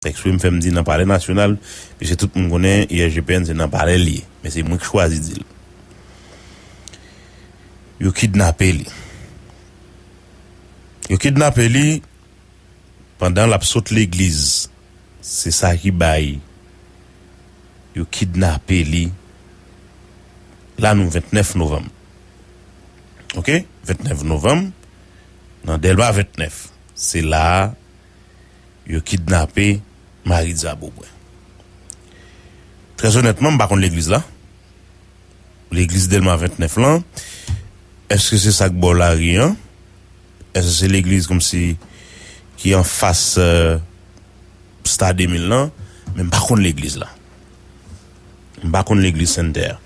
Eksprime m fè m di nan palè nasyonal, piske tout moun konnen ISGPN se nan palè l ye. Men se mwen k chwazi di l. Yo kidnape li. Yo kidnape li pandan l ap sot legliz. Se sa ki bay yo kidnape li la nou 29 novanm. Ok? 29 novanm nan Dèlma 29. Se la a. Yo kidnape Maritza Beaubrun. Très honnêtement, m pa konn legliz la. Legliz Delma 29 lan. Eske se sa k bò lari an? Eske se legliz kòmsi ki an fas Star 2000 lan? Men m pa konn legliz la. M pa konn legliz Sainte Terre.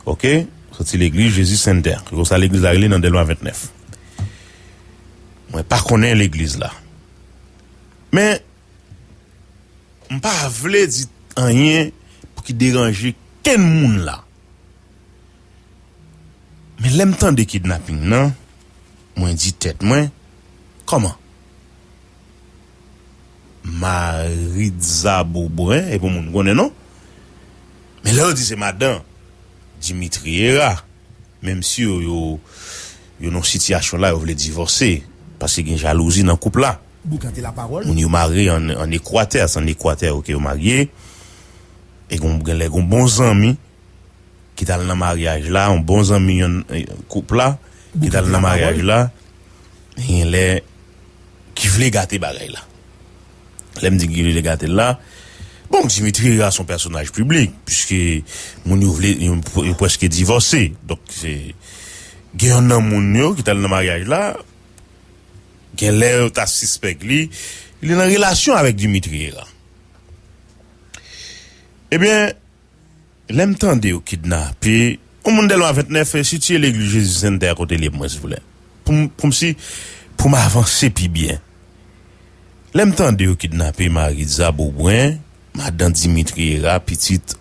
Ok? Soti legliz Jésus Sainte Terre. Se konsa legliz la rele nan Delma 29. Mwen pa konnen legliz la. Men, m pa vle di anyen pou ki deranje kenn moun la. Men lè m tande kidnaping nan, mwen di tèt mwen, kòman? Maritza Beaubrun e pou moun konnen non. Men lè yo di se madan Dimitri Herah. Menm si yo yo yo nan sitiyasyon la yo vle divòse paske gen jalouzi nan koup la. Boukante la pawòl. Moun yo marye an ekwatè se an ekwatè yo ke yo marye e gon genlè gon bon zanmi ki tal nan maryaj la yon bon zanmi yon koup la ki tal nan maryaj la genlè ki vle gate bagay la. Lè m di Guy René gate l la, bon Dimitri Hera son pèsonaj piblik piske moun yo vle yo prèske divòse donk se gen yonn nan moun yo ki t al nan maryaj la gen lè yo ta sispèk li li nan relasyon avèk Dimitri Hera. Ebyen. Lèm tande yo kidnape Yon moun delma 29 sitiye legliz jezi sen tè a kote liye pou mwen silvouplè poum poum si poum avanse pi byen lèm tande yo kidnape maritza beaubrun madan dimitri era pitit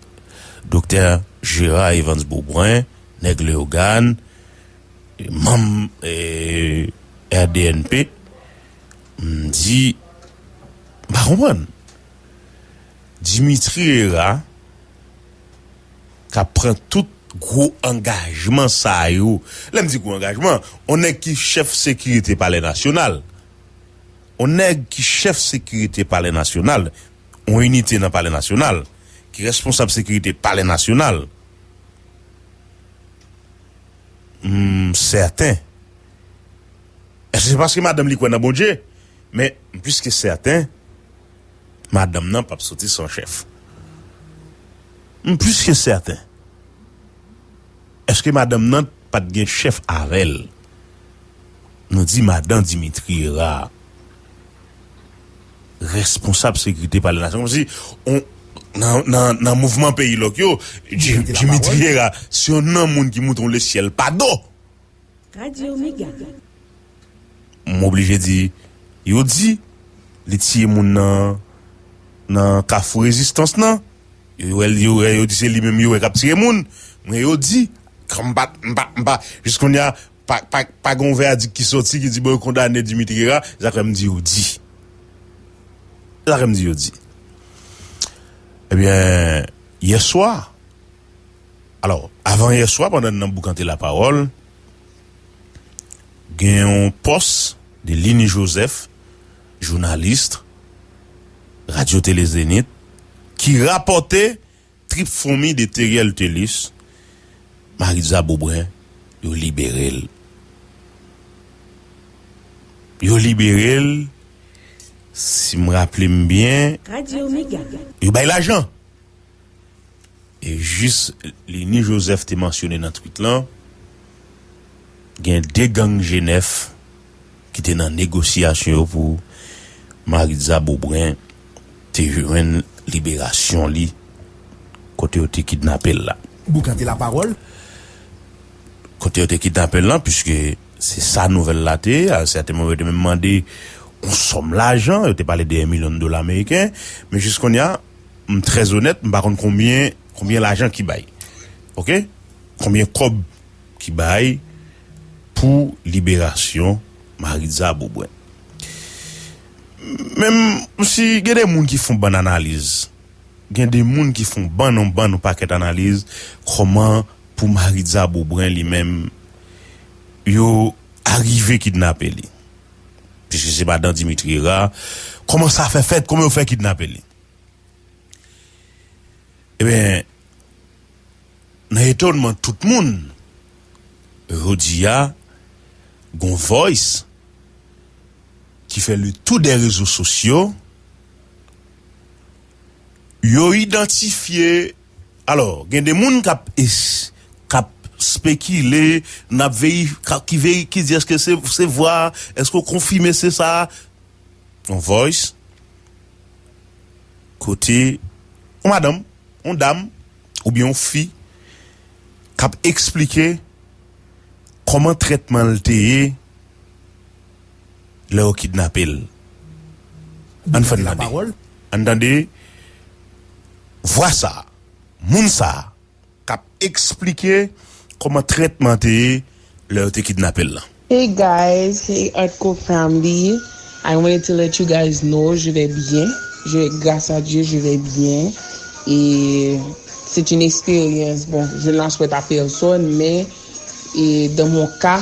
doktè jera evans beaubrun nèg leogan manm rdnp mdi mpa konprann. Dimitri Hera ka pran tout gwo angajman sa yo. Lè m di gwo angajman, on nèg ki chèf sekirite palè nasyonal, on nèg ki chèf sekirite palè nasyonal, on inite nan palè nasyonal, ki responsab sekirite palè nasyonal, m sèten, se paske madanm li kwè nan Bondje, men m plis ke sèten, Madanm nan pap soti san chèf. M plis ke sèten. Eske madanm nan pa t gen chèf avè l? Nou di madan Dimitri Herard, responsab sekirite palè nasyon an. Kòmsi nan mouvman peyilòk yo, Dimitri Herard se yon nan moun ki moute w lesyèl pa do. Radio mega. M oblije di, yo di li tiye moun nan nan kafou rezistans nan, yo wè l yo wè yo di se li menm yo wè k ap tire moun, mwen yo di, kòm m pa m pa m pa jis kounya pa pa pa gen yon vèadik ki sòti ki di bon yo kondane Dimitri Herard, se sa k fè m di yo di se sa k fè m di yo di. Ebyen yèswa. Alò, avan yè swa pandan n nan boukante lapawòl, gen yon pòs de Lini Jozèf, jounalist Radyo Tele Zenith, ki rapòte trip foumi de Theriel Thelus, Maritza Beaubrun, yo libere l. Yo libere l, si m raple m byen. Radio Mega. Yo bay lajan. E jis Lini Joseph te mansyone nan tweet lan, gen 2 gang Jenèf ki te nan negosyasyon yo pou Maritza Beaubrun te jwenn liberasyon li kote yo te kidnape l la. Boucante la pawòl. Kote yo te kidnape l lan, piske se sa nouvèl la te, a yon sèten moman yo te menm mande yon sòm lajan, yo te pale de 1 milyon dola meriken, men jis kounye a, M trè onèt m pa konn konbyen konbyen lajan ki bay ok konbyen kòb ki bay pou liberasyon Maritza Beaubrun men m si gen de moun ki fon bann analiz gen de moun ki fon bann on bann on pakèt analiz kòman pou Maritza Beaubrun li menm yo arive kidnape li. Piske se madan Dimitri Hera, kòman sa fè fèt, kòman yo fè kidnape li? Ebyen, nan etonman tout moun, jodi a, gon voice ki fè le tou dè rezo sosyo, yo idantifye. Alò, gen de moun k ap k ap spekile, n ap veri ki veri ki di èske se se vwa a, èske ou konfime se sa a? On voice kote on madanm, on dam oubyen on fi k ap esplike kòman trètman l te ye. lè yo kidnape l ann fè n tande ann tande vwa sa moun sa k ap esplike kòman trètman an te ye lè yo te kidnape l lan. Hey guys hey artko family I wanted to let you guys know je vais bien je vais grace à Dieu je vais bien e c'est une expérience bon je n'en souhaite à personne men e dans mon cas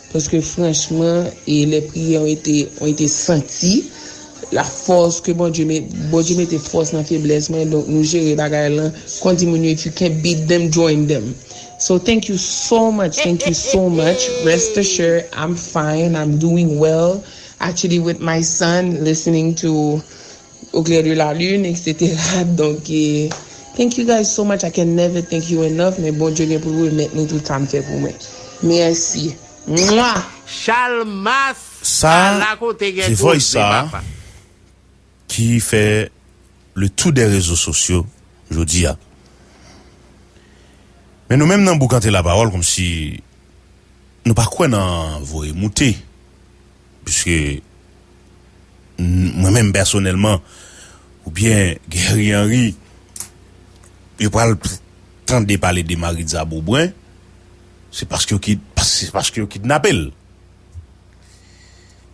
Paske franchman e lè priyè w ete w ete santi la fòs ke Bondye met Bondye mete fòs nan feblès mwen donk nou jere bagay lan kon di moun yo if you can't beat them join them so thank you so much thank you so much rest assure I'm fine I'm doing well actually with my son listening to Au clair de la lune etc donk thank you guys so much I can never thank you enough men Bondye gen poul remèt nou tout sam fè pou mwen merci mwah. Chalmas Sa a la kote gen koze papa. ki fè le tou dè rezo sosyo jodi a. Men nou menm nan Boukante Lapawòl kòmsi nou pa kwè nan voye moute. Piske mwen menm pèsonèlman ou byen Guerry Henry yo pral tande pale de Maritza Beaubrun se paske yo kidnape l.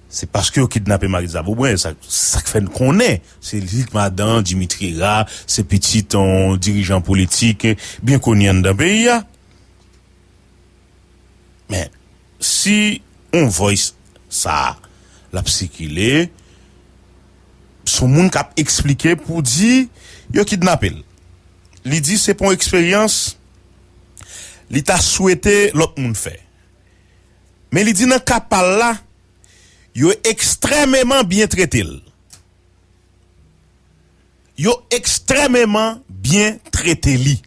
Se paske yo kidnape Maritza Beaubrun e sa k fè n konnen se li k madan Dimitri Hera se pitit yon dirijan politik byen koni anndan peyi a. Men si on voice sa lap sikile son moun kap eksplike pou di yo kidnape l li di se pon eksperyans li ta swete lòt moun fè men li di nan ka pal la yo ekstrèmeman byen trete l. Yo ekstrèmeman byen trete li.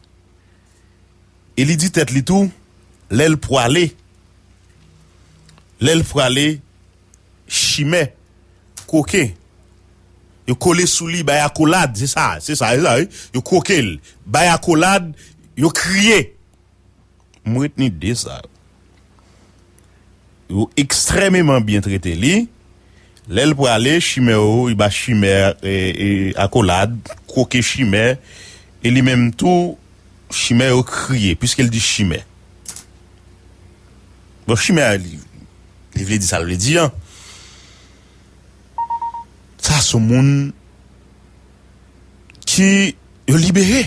E li di tèt li tou, lè l pwale, lè l pwale chimè, koken, yo kole sou li, bay akolad, se sa, se sa, se sa wi, yo kwoke l, bay akolad, yo kriye. M retni 2 sa yo. Yo ekstrèmeman byen trete li. Lè l prale, chimè yo, li ba chimè akolad, kwoke chimè. E li menm tou, chimè yo kriye, piske l di chimè. Bon, chimè a, li vle di sa l vle di an. Sa a se yon moun ki yo libere.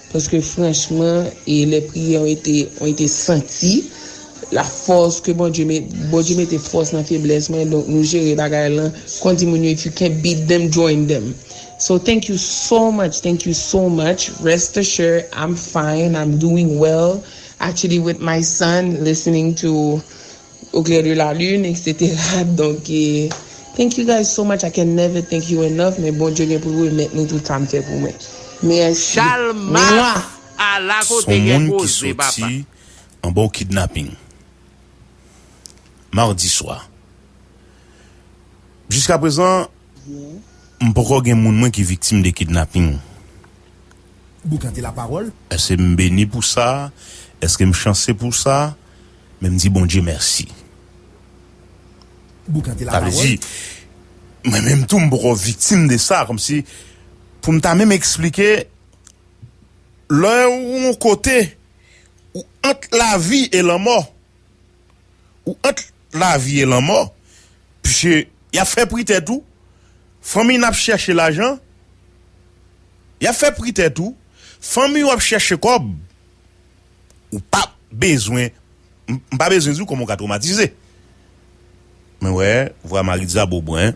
Paske franchman e lè priyè w ete w ete santi la fòs ke Bondye met Bondye mete fòs nan feblès mwen donk nou jere bagay lan kon di moun yo if you can't beat them join them so thank you so much thank you so much rest assure I'm fine I'm doing well actually with my son listening to Au clair de la lune etc donk thank you guys so much I can never thank you enough men Bondye gen poul remèt nou tout sam fè pou mwen mèsi mwah. Son moun ki soti anba yon kidnapping mardi swa. Jiskaprezan m poko gen moun mwen ki viktim de kidnapping. Boukan de la parole. Èske m beni pou sa? Èske m chanse pou sa? Men m di Bondye mèsi. Boukan de la parole. Sa vle di, mwen menm tou m poko viktim de sa, kòmsi pou m ta menm eksplike, lè ou yon kote, ou ant lavi e lanmò. Ou ant lavi e lanmò, pske y ap fè pri tèt ou, fanmiy n ap chèche lajan, y ap fè pri tèt ou, fanmiy ou ap chèche kòb, ou pa bezwen, m pa bezwen di w kòman ou ka twomatize. Mwen wè vwa Maritza Beaubrun,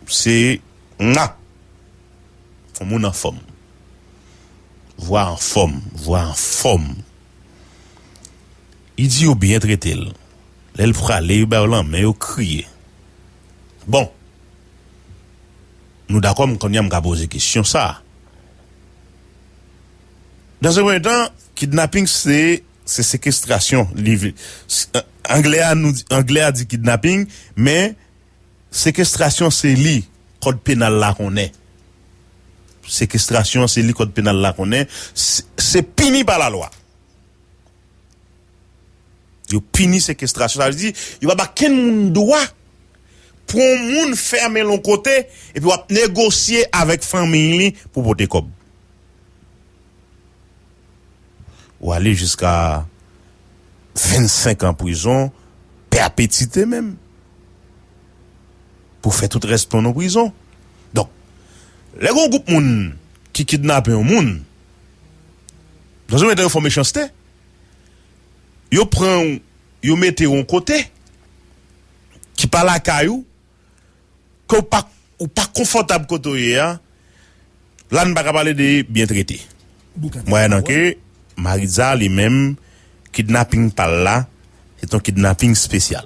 se mwa. Fò moun anfòm. Vwa anfòm. Vwa anfòm. Li di yo byen trete l. Lè l prale yo ba yo lanmen yo kriye. Bon! Nou dakò m kounye a m ka poze kesyon sa a. Dans un premier temps, kidnapping se se sekestrasyon. Anglè a di kidnapping men Sekestrasyon se li kòd penal la konnen. Sekestrasyon se li kòd penal la konnen. Se pini pa lalwa. Yo pini sekestrasyon. Sa vle di, yo pa ba kenn moun dwa pou yon moun fèmen l yon kote epi w ap negosye avèk fanmiy li pou pote kòb. Ou ale jiska 25 an prizon, pèpetite menm, pou fè tout rès tan w nan prizon. Donk, lè gen yon gwoup moun ki kidnape yon moun, nan zon mete yo fò mechanste, yo pran w, yo mete w yon kote ki pa lakay ou. ke w pa ou pa konfòtab kote w ye a la n pa ka pale de byen trete mwayennan ke Maritza li menm kidnaping pa l la se t yon kidnaping spesyal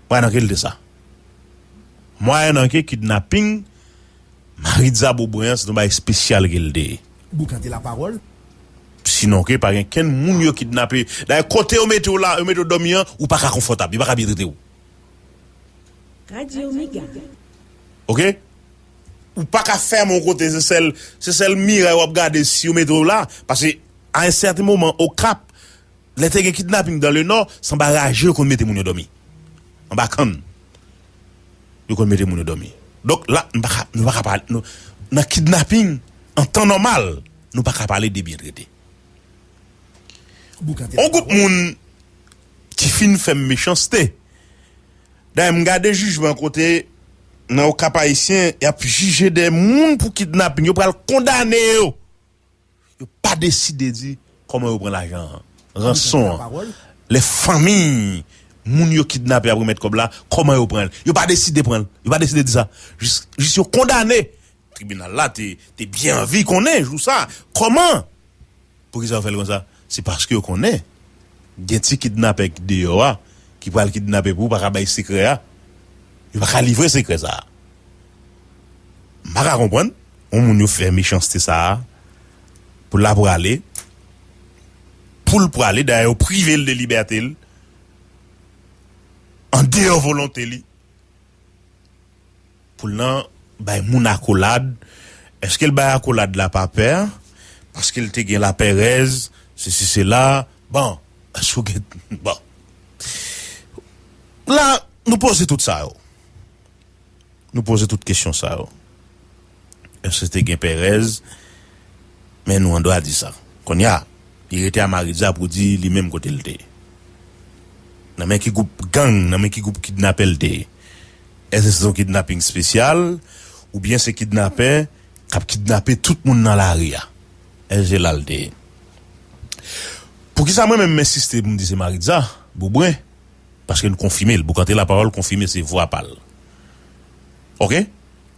mwayennan ke l te sa mwayennan ke kidnaping Maritza Beaubrun an se t yon bagay spesyal ke l te ye sinon ke pa gen kenn moun yo kidnape dayè kote yo mete w la yo mete w dòmi an ou pa ka konfòtab yo pa ka byen trete w. Ok ou paka fèm yon kote se sèl se sèl miray wap gade si yo mete w la pase a yon sèten moman okap lè te gen kidnaping dan le nò se anba raje yo konn mete moun yo dòmi anba kann yo konn mete moun yo dòmi donk la nou paka nou paka pa nou nan kidnaping an tan nòmal nou paka pale de byen trete yon gwoup moun. Ki fin fè m mechanste. Dayè m gade jijman kote nan Okap Ayisyen y ap jije de moun pou kidnaping yo pral kondane yo. Yo pa deside di kòman yo pran lajan an, ranson an, lè fanmiy moun yo kidnape ap remèt kòb la kòman yo pran l. Yo pa deside pran l. Yo pa deside di sa. Jis yo kondane. Tribinal la te byen anvi konnen jou sa kòman. Poukisa yo fè l konsa? Se paske yo konnen gen ti kidnapè ki deyò a ki pral kidnape pou pa ka bay sekrè a. Yo pa ka livre sekrè sa a. M pa ka konprann yon moun yo fè mechanste sa a pou l ap prale, pou l prale dayè yo prive l de libète l an deyò volonte li. Poul nan bay moun akolad, eskel bay akolad la pa pè, paskel te gen lapèrèz, sesi sela, bon, eske ou gen, bon. La nou poze tout sa yo. Nou poze tout kesyon sa yo. Èske te gen perèz? Men nou andwa di sa. Kounye a, li rete a Maritza pou di li menm kote l te ye. Nan men ki gwoup gang, nan men ki gwoup kidnapè l te ye. Èske se te yon kidnaping spesyal? Oubyen se kidnapè k ap kidnape tout moun nan lari a? Èske se la l te ye? Poukisa mwen menm m ensiste pou m di se Maritza, Boubren? Paske l konfime l. Boukante Lapawòl konfime se vwa pa l. Ok?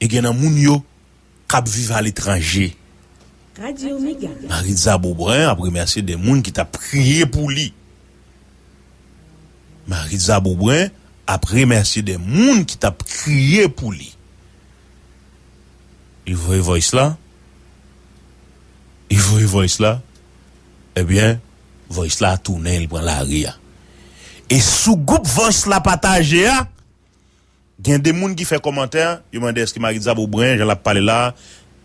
E gen nan moun yo k ap viv aletranje. Maritza Beaubrun ap remèsye 2 moun ki t ap kriye pou li. Maritza Beaubrun ap remèsye 2 moun ki t ap kriye pou li. Li voye voice la. Li voye voice la. Ebyen, voice la tounen li pran lari a. E sou gwoup voice la pataje a, Gen de moun ki fè kòmantè, yo mande èske Maritza bou bren jan lap pale la,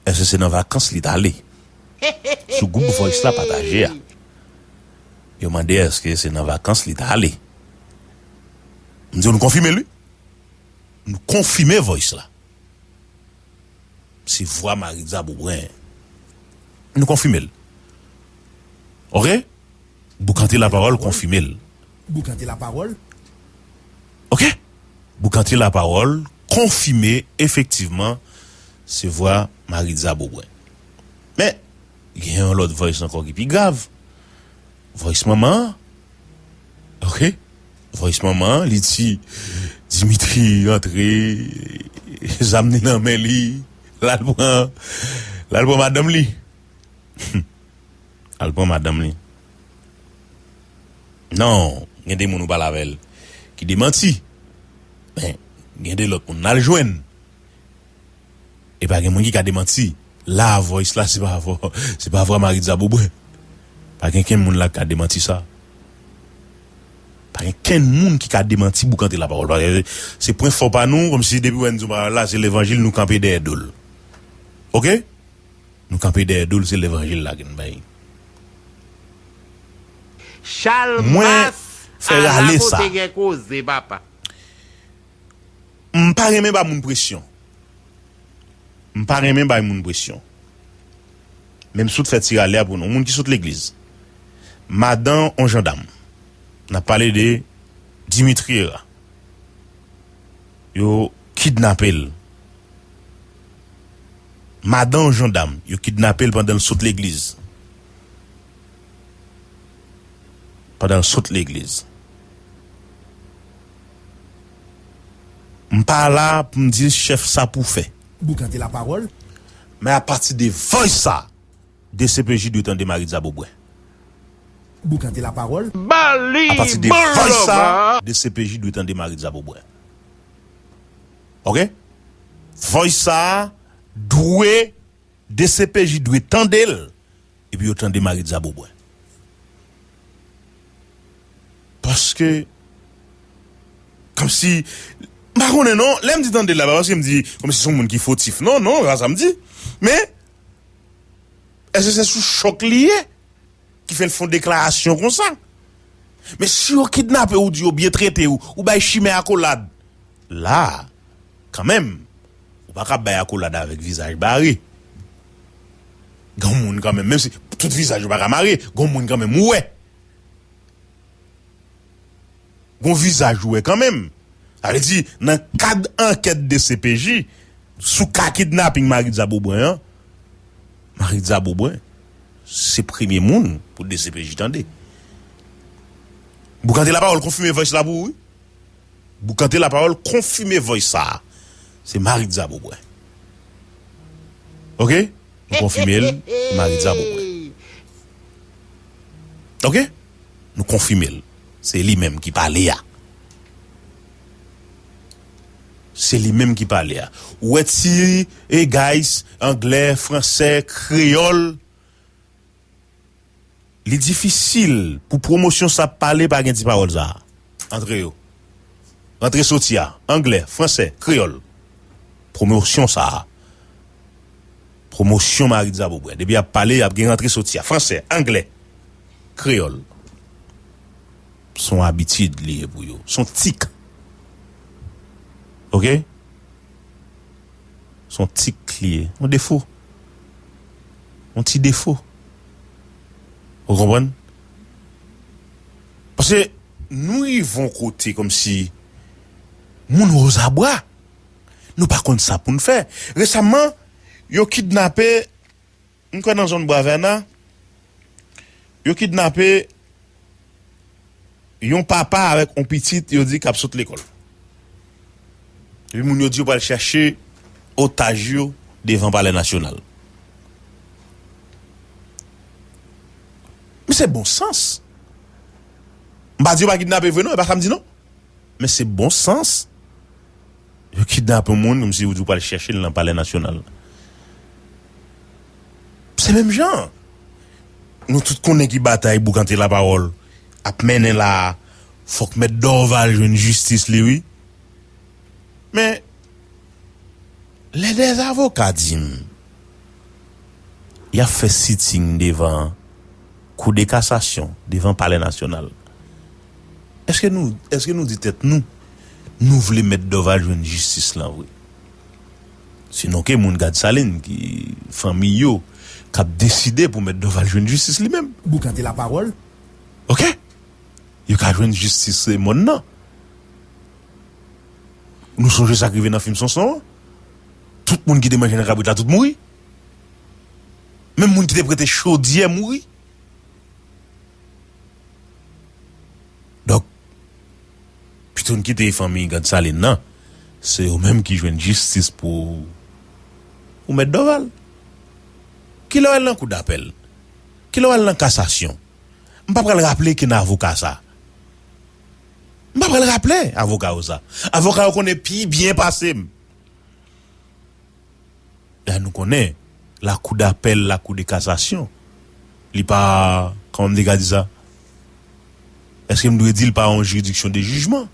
èske se nan vakans li t ale? Sou gwoup voice la pataje a. Yo mande èske se nan vakans li t ale? M di w nou konfime l wi. Nou konfime voice la. Se vwa Maritza Beaubrun. Nou konfime l. Ok. Boukante Lapawòl konfime l. Boukante Lapawòl. Ok! Boukante Lapawòl konfime efektivman se vwa Maritza Beaubrun. Men, gen yon lòt voice ankò ki pi grav. Voice manman an. Ok! Voice manman an, li di, Dimitri rantre, zam li nan men li, l al pran, l al pran madanm li. Humm al pran madanm li non gen de moun ou pale avèl ki de manti men gen de lòt moun nal jwenn epa gen moun ki ka de manti la voice la se pa vwa se pa vwa maritza bobre pa gen kenn moun la ki ka de manti sa pa gen kenn moun ki ka de manti boukante la pawòl paske se pwen fò pa nou kòmsi depi wè nou di yon pawòl la se levanjil nou kanpe dèyè dol ok. Nou kanpe dèyè dol se levanjil la gen bay. Chalmas ala kote gen koze papa. M pa renmen ba moun presyon. M pa renmen bay moun presyon. Men m sot fè ti rale a pou nou. Moun ki sot legliz. Madan on jandam. N ap pale de Dimitri Hera. Yo kidnape l. Madan yon jandam, yo kidnape l pandan l sot legliz. Pandan l sot legliz. M pa la a pou m di chèf sa pou fè. Boukante lapawòl. Men apati de vòys sa a, dcpj dwe tande Maritza Beaubrun. Boukante lapawòl. Ba li bon love a. Apati de vòys sa a, dcpj dwe tande Maritza Beaubrun. ok voice sa dwe dcpj dwe tandel epi yo tande maritza bobwen paske komsi m pa konnen non lèm di tandel la pa paske m di komsi son moun ki fotif non non sa sam di men eske se sou chòk li ye. Ki fè l fon deklarasyon konsa. Men si yo kidnape ou di yo byen trete ou, ou bay chimè akolad. La, kanmenm, ou pa ka bay akolad avèk vizaj bare. Gon moun kanmenm, menm si tout vizaj yo pa ka mare, gon moun kanmenm ou wè. Gon vizaj ou wè kanmenm. Sa vle di nan kad ankèt dcpj sou ka kidnaping Maritza Beaubrun an, Maritza Beaubrun se premye moun pou dcpj tande. Boukante Lapawòl konfime voice la pou ou wi. Boukante Lapawòl konfime voice sa a. Se Maritza Beaubrun. Ok? Nou konfime l, se Maritza Beaubrun. Ok? Nou konfime l. Se li menm ki pale a. Se li menm ki pale a. Ou wè ti e guys anglè, fransè, kreyòl. Li difisil pou pwomosyon sa pale pa gen ti pawòl sa a. Antre yo. Rantre soti a. Anglè, fransè, kreyòl. Pwomosyon sa a. Pwomosyon Maritza Beaubrun. Depi y ap pale y ap gen rantre soti a. Fransè, anglè. Kreyòl. S on abitid li ye pou yo. S on tik. Ok? S on tik li ye. On defo. On ti defo. Ou konprann? Pase nou rive on kote kòm si moun ozabwa. Nou pa konn sa pou n fè. Resamman, yo kidnape. M kwè nan zòn Bwa Vèna, yo kidnape yon papa avèk yon pitit yo di k ap sot lekòl. Epi moun yo di yo pral chache otaj yo devan palè nasyonal. Men se bon sans. M pa di yo pa kidnape vre non, e pa sa m di non. Men se bon sans Yo kidnap yon moun kòmsi ou di ou pral chèche l nan palè nasyonal. Se menm jan an. Nou tout konnen ki batay boukante lapawòl ap mennen la a. Fòk mèt Dorval jwenn jistis li wi. Men lè dè avoka di m y ap fè sitting devan koudekasasyon, devan palè nasyonal. Eske nou eske nou di tèt nou nou vle mèt Dorval jwenn jistis lan vre? Se nou ke moun gad Salin ki fanmiy yo kap deside pou mèt Dorval jwenn jistis li menm. Boukante la pawòl. Ok! Yo ka jwenn jistis se mòn nan. Nou sonje sak rive nan fim Sonson an? Tout moun ki te manje nan kabrit la tout mouri. Menm moun ki te prete chodyè mouri. Donk, pito n kite fanmi Gansalin nan, se yo menm ki jwenn jistis pou pou mèt Dòval. Ki lè w al nan kou dapèl? Ki lè w al nan kasasyon? M pa pral raple kin avoka sa. M pa pral raple avoka yo sa. Avoka yo konnen pi byen pase m. Dayè nou konnen lakou dapèl, lakou de kasasyon li pa kòman m te ka di sa? Eske m dwe di li pa yon jiridiksyon de jijman?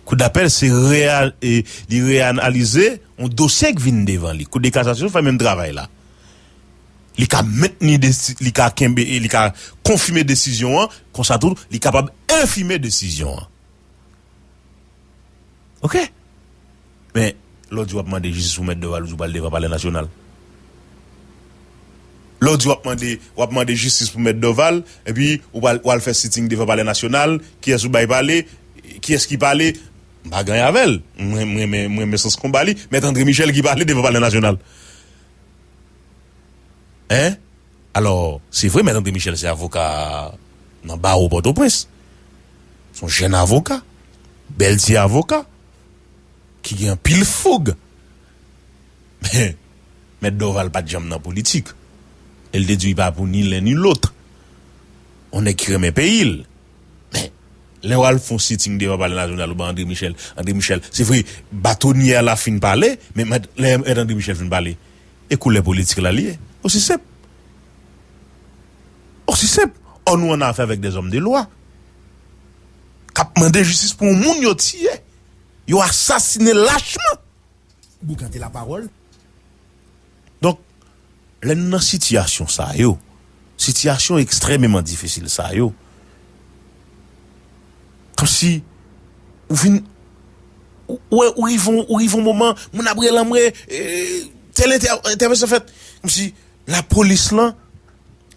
Kou dapèl se li reyanalize yon dosye k vin devan li. Kou de kasasyon fè menm travay la. Li ka mentni li ka kenbe li ka konfime desizyon an konsa tou li kapab enfime desizyon an. Ok! Men, lè w di w ap mande jistis pou Mèt Dorval ou di w pral devan Palè Nasyonal. Lè w di w ap mande, w ap mande jistis pou Mèt Dorval, epi ou pral, ou al fè sitting devan Palè Nasyonal, kiyès ou bay pale, kiyès ki pale, m pa gany avè l, m renmen, m renmen sans konba li, Mèt André Michel ki pale devan Palè Nasyonal. Hein? Alò, se vre Mèt André Michel se avoka nan bawo Pòtoprens. Se yon jèn avoka, bèl ti avoka, ki gen anpil foug. Men, Mèt Dorval pa t janm nan politik. E l te di li pa pou ni len ni lòt. Yon nèg ki renmen peyi l. Men, lè w al fè yon sitting devan Palè Nasyonal ou ban André Michel, André Michel, se vre, batonye a la fin pale, men lè Mèt André Michel fin pale, e koulè politik la li ye. Osi senp. Osi senp. Ò nou an afè avèk de zòm de lwa k ap mande jistis pou yon moun yo tiye, yo asasine lachman. Boukante lapawòl. Donk, lè nou nan sitiyasyon sa yo, sitiyasyon ekstrèmeman difisil sa yo, Kòmsi ou vin wè ou rive yon ou rive yon moman moun ap rele anmwe tèl entè entèvansyon fèt kòmsi lapolis lan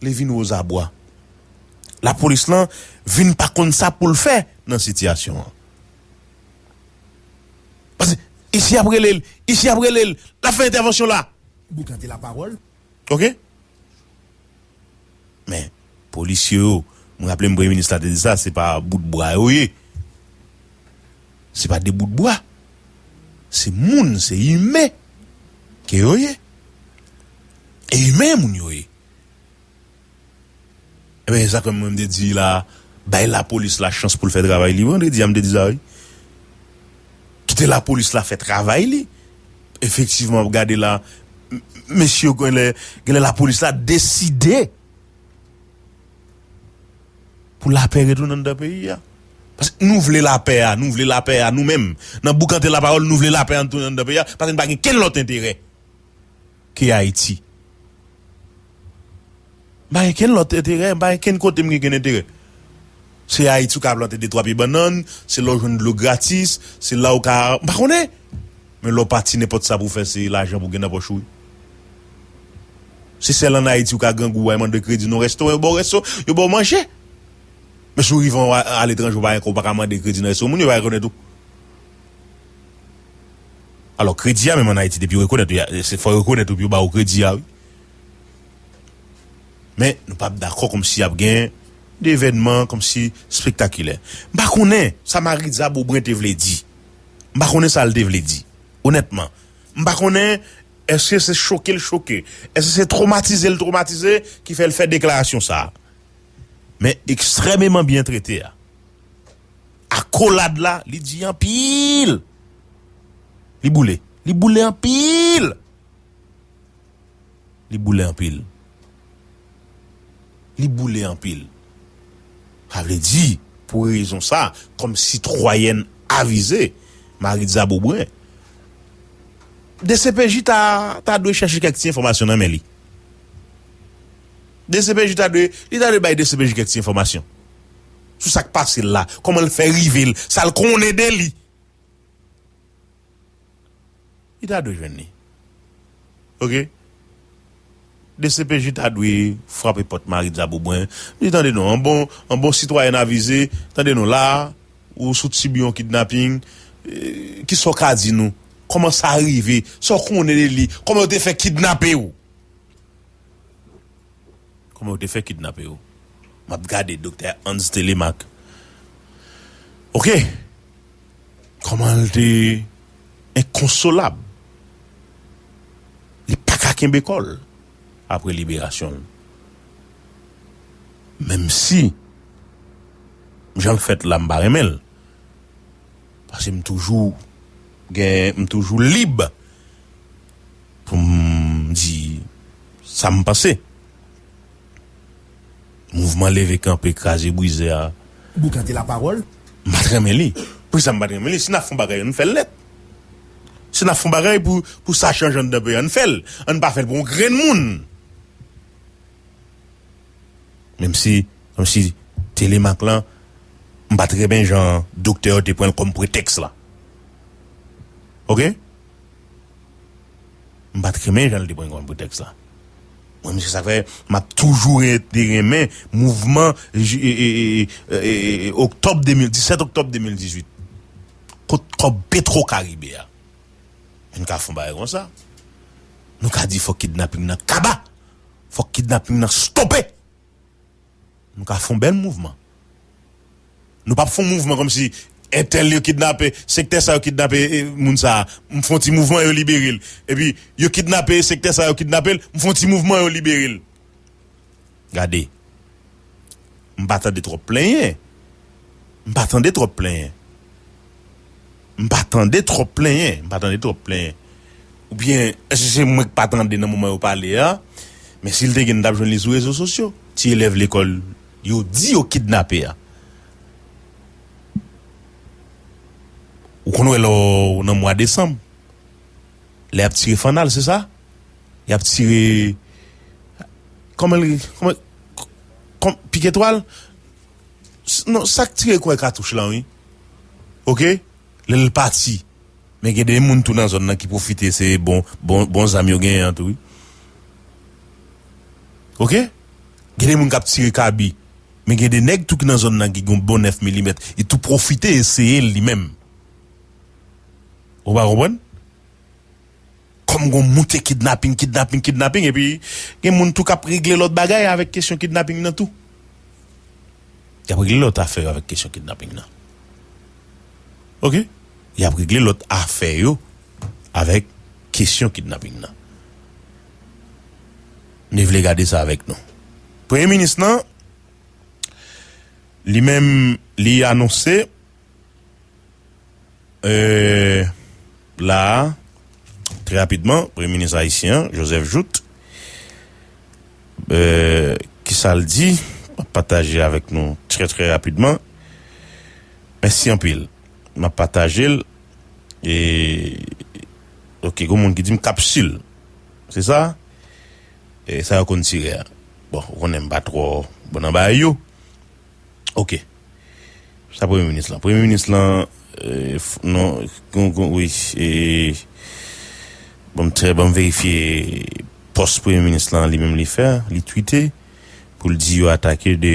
li vin wozabwa lapolis lan vin pa konn sa poul fè nan sitiyasyon an pase isi ap rele l isi ap rele l lap fè entèvansyon la. Boukante lapawòl Ok Men polisye yo m raple m premye minis la te di sa se pa bout bwa yo ye se pa de bout bwa se moun se imen ke yo ye e imen moun yo ye. Ebyen esa ke mwen m te di la bay la police la chans poul fè travay li vendredi a m te di sa wi kite la police la fè travay li efektivman wap gade la mesye yo genlè genlè la police la deside pou lapè retounen andan peyi a paske nou vle lapè a nou vle lapè a nou menm nan boukante la parole nou vle lapè an retounen andan peyi a paske n pa gen kenn lòt enterè. ke Ayiti. M pa gen kenn lòt enterè, m pa gen kenn kote m gen kenn enterè. Se Ayiti ou ka plante de twa pye bannann, se la ou jwenn dlo gratis, se la ou ka, m pa konnen! Men lè w pati nenpòt sa pou w fè se lajan pou w gen nan pòch ou wi. Se sèl an Ayiti ou ka grangou al mande kredi nan yon restoran yo ba w resto, yo ba w manje. Men si w rive aletranje ou pa gen kòb ou pa ka mande kredi nan resto moun yo va rekonnèt ou. Alò kredi a menm an Ayiti depi yo rekonèt ou se fò yo rekonèt ou pou yo ba ou kredi a wi. Men nou pap dakò kòmsi ap gen de evènman kòmsi spektakilè. M pa konnen sa Maritza Beaubrun te vle di. M pa konnen sa l te vle di. Onètman. M pa konnen èske se choke l choke. Èske se twomatize l twomatize ki fè l fè deklarasyon sa. Men ekstrèmeman byen trete a. Akolad la li di anpil. Li boule. Li boule anpil. Li boule anpil. Li boule anpil. Sa vle di, pou rezon sa, kòm sitwayèn avize, Maritza Beaubrun, dcpj ta ta dwe chèche kèk ti enfòmasyon nan men li. Dcpj ta dwe, li ta dwe bay dcpj kèk ti enfòmasyon. sou sa k pase l la, kòman l fè rive l, sa l konnen de li. Li ta dwe jwenn li. Ok. Dcpj ta dwe frape pòt Marie Dzaboubwen, di tande non, an bon, an bon sitwayèn avize, tande non la a, ou sou tib yon kidnaping, ki sa w ka di nou, kòman sa rive, sa w konnen de li, kòman yo te fè kidnape w. Kòman yo te fè kidnape yo? Map gade Doktè Hans Télémaque ok kòman l te enkonsolab li paka kenbe kò l aprè liberasyon l menm si jan l fèt la m pa renmen l pase m toujou gen m toujou lib Pou m di sa m panse. Mouvman leve kanpe kraze brize a. Boukante lapawòl. M pa t renmen li. Poukisa m pa t renmen li? Si n ap fon bagay an n fè l nèt. Si n ap fon bagay pou sa chanje anndan peyi an n fè l. An n pa fè l pou yon grenn moun. Menm si menm si telemak lan m pa t renmen jan doktè yo te pran l kòm pretèks la. Ok. M pat renmen jan li te pran kòm pou tèks la. Mwen menm se sa k fè m ap toujou rete renmen mouvman oktòb 2000 17 oktòb 2018. Kot kòb petro karibe a? Pou n ka fè yon bagay konsa. Nou ka di fòk kidnaping nan kaba. Fòk kidnaping nan stope. Nou ka fon bèl mouvman. Nou pap fon mouvman komsi entèl yo kidnape sektè sa yo kidnape moun sa m fon ti mouvman yo libere l epi yo kidnape sektè sa yo kidnape l m fon ti mouvman yo libere l gade m pa tande twòp plenyen m pa tande twòp plenyen. M pa tande twòp plenyen. M pa tande twòp plenyen. Oubyen, èske se mwen k pa tande nan moman yo pale a? Men si l te gen, nou t ap jwenn li sou rezo sosyo. Ti elèv lekòl yo di yo kidnape a. Ou konn wè lò ou nan mwa desanm, lè y ap tire fannal, se sa? Y ap tire, kòman l rele? Piketwal? Non, sa k tire kwè katouch lan wi. ok lel pati men gen de moun tou nan zòn nan ki pwofite se bon bon zam yo genyen an tou wi ok gen de moun kap tire kabi men gen de nèg tou ki nan zòn nan ki gon bon 9 milimèt li tou pwofite eseyel li menm ou pa konprann. Kòm gon moute kidnaping, kidnaping, kidnaping epi gen moun tou k ap regle lòt bagay avèk kesyon kidnaping nan tou. Y ap regle lòt afè yo avèk kesyon kidnaping nan. Oke. Y ap regle lòt afè yo avèk kesyon kidnaping nan. M vle gade sa avèk nou. Premye minis lan, li menm li anonse. La a, trè rapidman, premye minis ayisyen an, Joseph Jouthe, ki sa l di, m ap pataje avèk nou trè trè rapidman. Mèsi anpil. M ap pataje l. E, ok, gen yon moun ki di m kapsil. Se sa? E sa yo konn tire a. Bon, ou konnen m pa twò bon nan bagay yo. Ok. Sa premye minis lan. Premye minis lan non kon kon wi e banm trè banm verifye pòs premye minis lan li menm li fè li twite pou l di yo atake de